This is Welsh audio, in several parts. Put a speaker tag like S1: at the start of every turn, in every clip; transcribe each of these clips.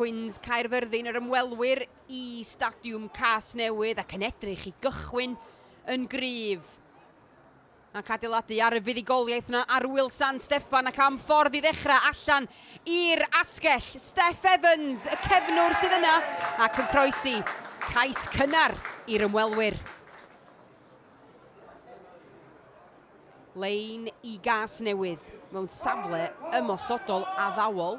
S1: Quins Caerfyrddin yr ymwelwyr i Stadiwm Casnewydd ac yn edrych i gychwyn yn gryf. Ac adeiladu ar y fuddugoliaeth yna ar wyl San Steffan ac am ffordd i ddechrau allan i'r asgell. Steff Evans, y cefnwr sydd yna ac yn croesi cais cynnar i'r ymwelwyr. Lein i gas newydd mewn safle ymosodol addawol.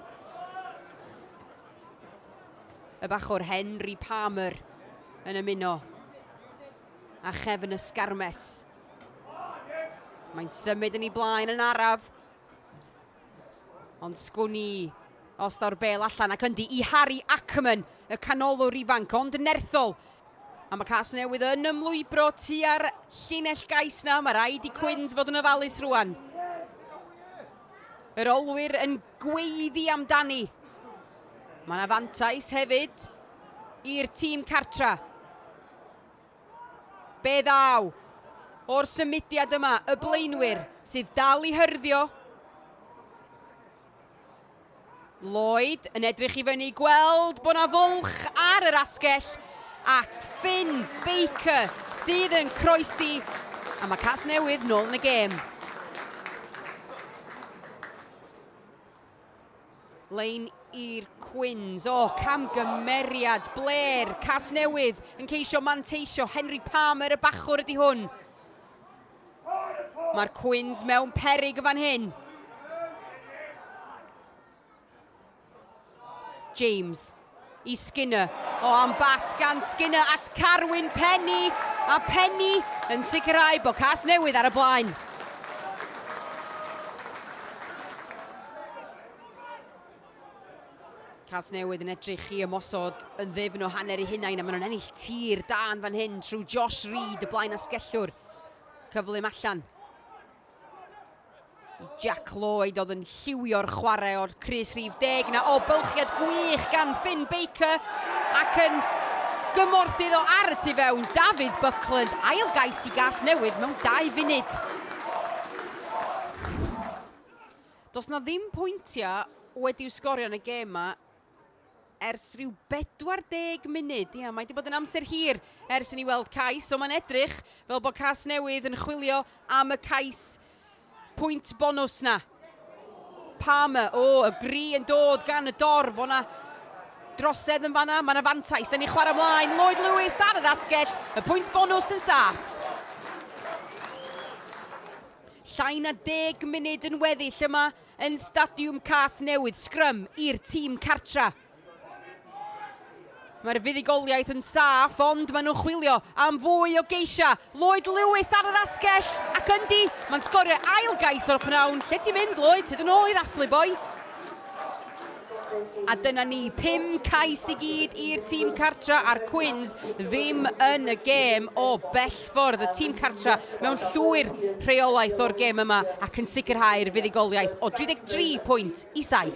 S1: Y bachwr Henry Palmer yn ymuno a chefn y sgarmes. Mae'n symud yn ei blaen yn araf. Ond sgwn i os daw'r bel allan ac yndi i Harry Ackerman, y canolwr ifanc ond nerthol. A mae cas newydd yn ymlwybro tua'r llinell gais na, mae rhaid i Cwynd fod yn ofalus rwan. Yr olwyr yn gweiddi amdani. Mae yna fantais hefyd i'r tîm cartra. Be ddaw o'r symudiad yma, y blaenwyr sydd dal i hyrddio. Lloyd yn edrych i fyny, gweld bod 'na fwlch ar yr asgell, ac Finn Baker sydd yn croesi, a mae Cas Newydd nôl yn y gêm. Lein i'r Cwins, o, camgymeriad, Blair, Casnewydd, yn ceisio manteisio, Henry Palmer y bachwr ydy hwn. Mae'r Cwins mewn perig y fan hyn. James, i Skinner. O, oh, am bas gan Skinner at Carwyn Penny, a Penny yn sicrhau bod cas newydd ar y blaen. Cas newydd yn edrych i ymosod yn ddefn o hanner ei hunain a maen nhw'n ennill tir dan fan hyn trwy Josh Reid, y blaen asgellwr. Cyflym allan. I Jac Lloyd oedd yn lliwio'r chwarae o'r crys rhif deg 'na. O, bylchiad gwych gan Finn Baker ac yn gymorth iddo ar y tu fewn, Dafydd Buckland, ail gais i gas newydd mewn dau funud. Does na ddim pwyntiau wedi'w sgorio yn y gêm 'ma, ers rhyw 40 munud. Ia, mae wedi bod yn amser hir ers i ni weld cais, so mae'n edrych fel bod cas newydd yn chwilio am y cais pwynt bonus na. Palmer, o, y gri yn dod gan y dorf, o'na drosedd yn fanna, mae yna fantais, da ni chwarae mlaen, Lloyd Lewis ar yr asgell, y pwynt bonus yn saff. Llai na deg munud yn weddill yma, Yn Stadiwm Casnewydd, sgrym i'r tîm cartra. Mae'r fuddugoliaeth yn saff ond maen nhw'n chwilio am fwy o geisiau. Lloyd Lewis ar yr asgell ac yndi, mae'n sgorio ail gais o'r pnawn. Lle ti'n mynd, Lloyd? Tyd yn ôl i ddathlu, boi. A dyna ni, pum cais i gyd i'r tîm cartra a'r Cwins ddim yn y gêm o bellffordd. Y tîm cartra mewn llwyr rheolaeth o'r gêm yma ac yn sicrhau'r fuddugoliaeth o 33 pwynt i 7.